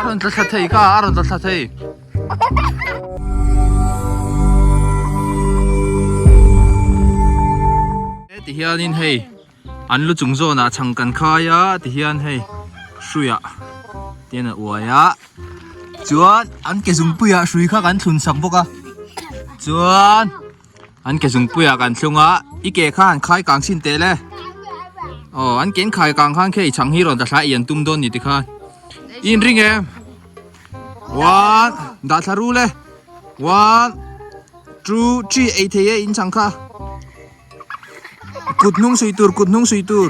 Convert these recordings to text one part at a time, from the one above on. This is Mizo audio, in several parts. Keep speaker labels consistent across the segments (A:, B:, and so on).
A: Aron tla tla thei ka, aron tla tla thei. Ti hian in hei, an lu chung zona chang kan khai a, ti hian hei, hruia, ti hian a uai a. Chuan, an ke zung puia hrui kha kan thlun sak bawk a. Chuan. An ke zungpuia kan thlung a, i ke khan khai kang sin teh le. Aw, an ke in khai kang khan khe i chhang hi rawn ta thlai i an tum dawn ni ti khan. I in ring em? One, dah thla ru le. One, two, three, ei thei e in chhang kha. Kut hnung sui tur, kut hnung sui tur.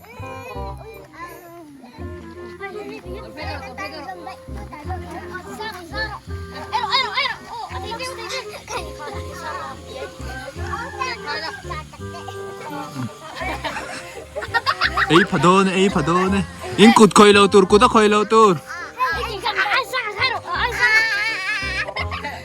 A: ei pha dawn ei pha dawn e in kut khawih lo tur kut a khawih lo tur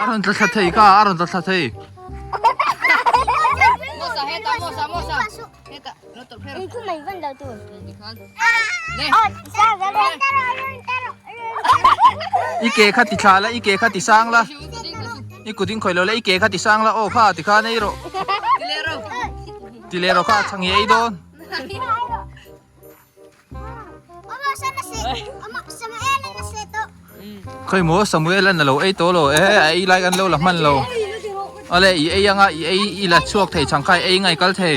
A: a rawn tla thla thei ka a rawn tla thla thei i ke kha ti thla la i ke kha ti sang la i kuding khawih lo la i ke kha ti sang la aw kha ti kha nei rawh ti leh rawh kha a chhang i ei dawn Khawi maw Samuel an lo ei tawh lo e a ei like an lo la hman lo ale i ei anga i ei i la chhuak thei chang kha ei ngai kal thei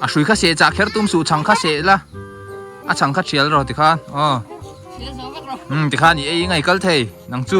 A: a hrui kha se chah kher tum suh chang kha se la a chang kha thial rawh ti khan aw ti khan i ei ngai kal thei nang chu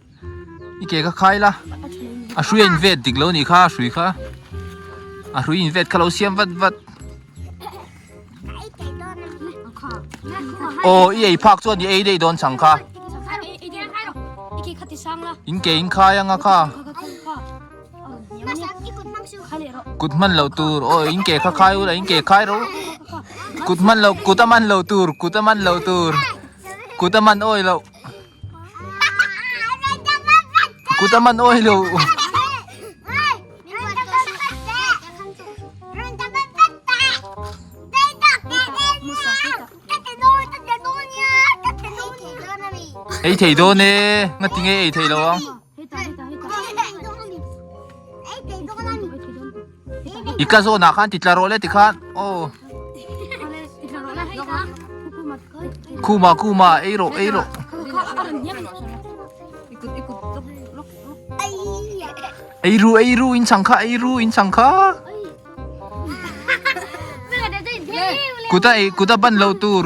A: I ke ka khai la, a hruia in vet dik lo ni kha a hrui kha. A hrui in vet kha lo siam vat vat. Aw i ei phak chuan i ei daih dawn chang kha. In ke in khai anga kha. Kut hman lo tur, aw in ke kha khai ula in ke khai ro. Kut hman lo, kut a man lo tur, kut a man lo tur. Kut a man awih loh. Kut a man awi lo. Ei thei dawn e, ngatin nge ei thei lo ang. i tla zawn ah khan titla rawh leh ti khan aw khuma khuma ei rawh ei rawh ei ru ei ru in chang kha ei ru in chang kha kuta ei kuta ban lo tur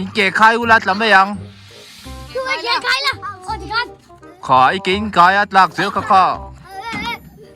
A: inke khai ula tla mai ang kha i ke in kai a tlak zel kha kha.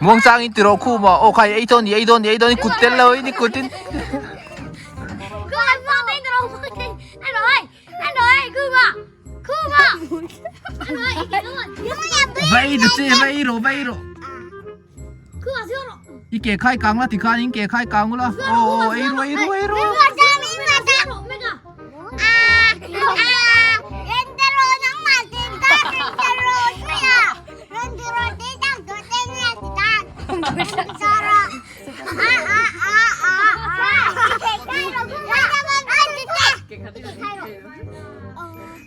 A: Muang chang in tiro khu ma o khai ei ton ei don ei don kut tel lo ni kut in Vai ro che vai ro vai ro I ke khai kang la ti khan in ke khai kang ula. O o ei ru ei ru ei ru. Thank you.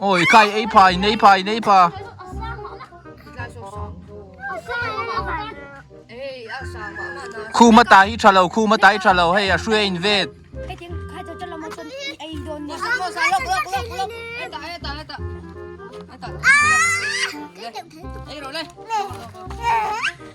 A: Oi kai ei pha in ei pha in ei pha. Khu ma ta hi thalo khu ma ta hi thalo hei a hruia in vet. Ei ro le.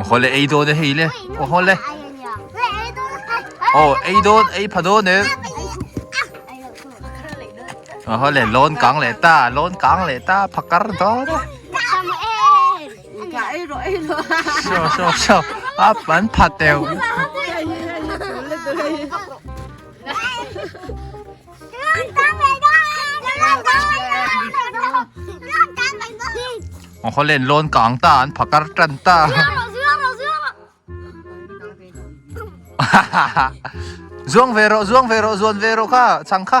A: Oho le ei dawn e hei le. Oho le. Oh, ei dawn, ei pha dawn e. Oho le, lon kang le ta, lon kang le ta, phakar dawn e. Sho, sho, sho. A pan pha teo. Hollen lawn kang ta an pha kar tan ta zuang ve rawh zuang ve rawh zuan ve rawh kha chhang kha.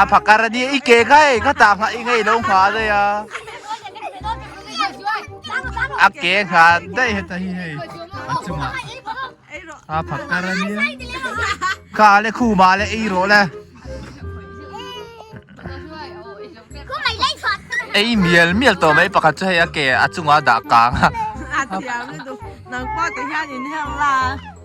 A: A pha kar ania, i ke kha e, khata nghah i ngailo nghah a daih a. A ke nghah daih heta hi hei a chunga a pha kar ania. Kha le khu ma le eiraw le. Ei mial mial tawh mai pakhat chu hei a ke a chunga dah kang a.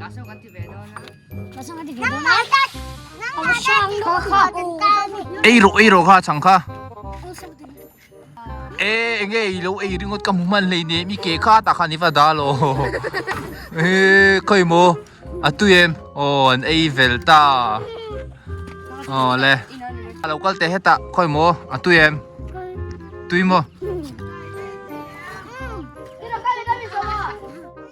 A: Lasam kan ti ve dawn a. Lasam kan ti ve dawn a. Nang ngai dat. Nang ngai dat. Kho kho. Ei ro ei ro kha chang kha. E enge i lo ei ringot ka mu man lei ne mi ke kha ta kha ni va da lo. E khoi mo. A tu em. O an ei vel ta. O le. A lo kal te heta khoi mo. A tu em. Tui mo.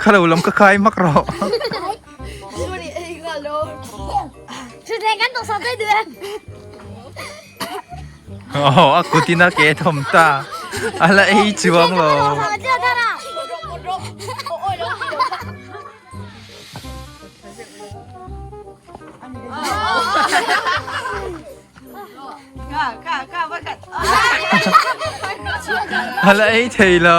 A: Kha lo lam ka khai mak rawh. Sorry ei nga lo. Thutthleng kan tawh sang daih duh em. Aw a kutina ke thawm ta. Ala ei chuang lo. Ala ei thei lo.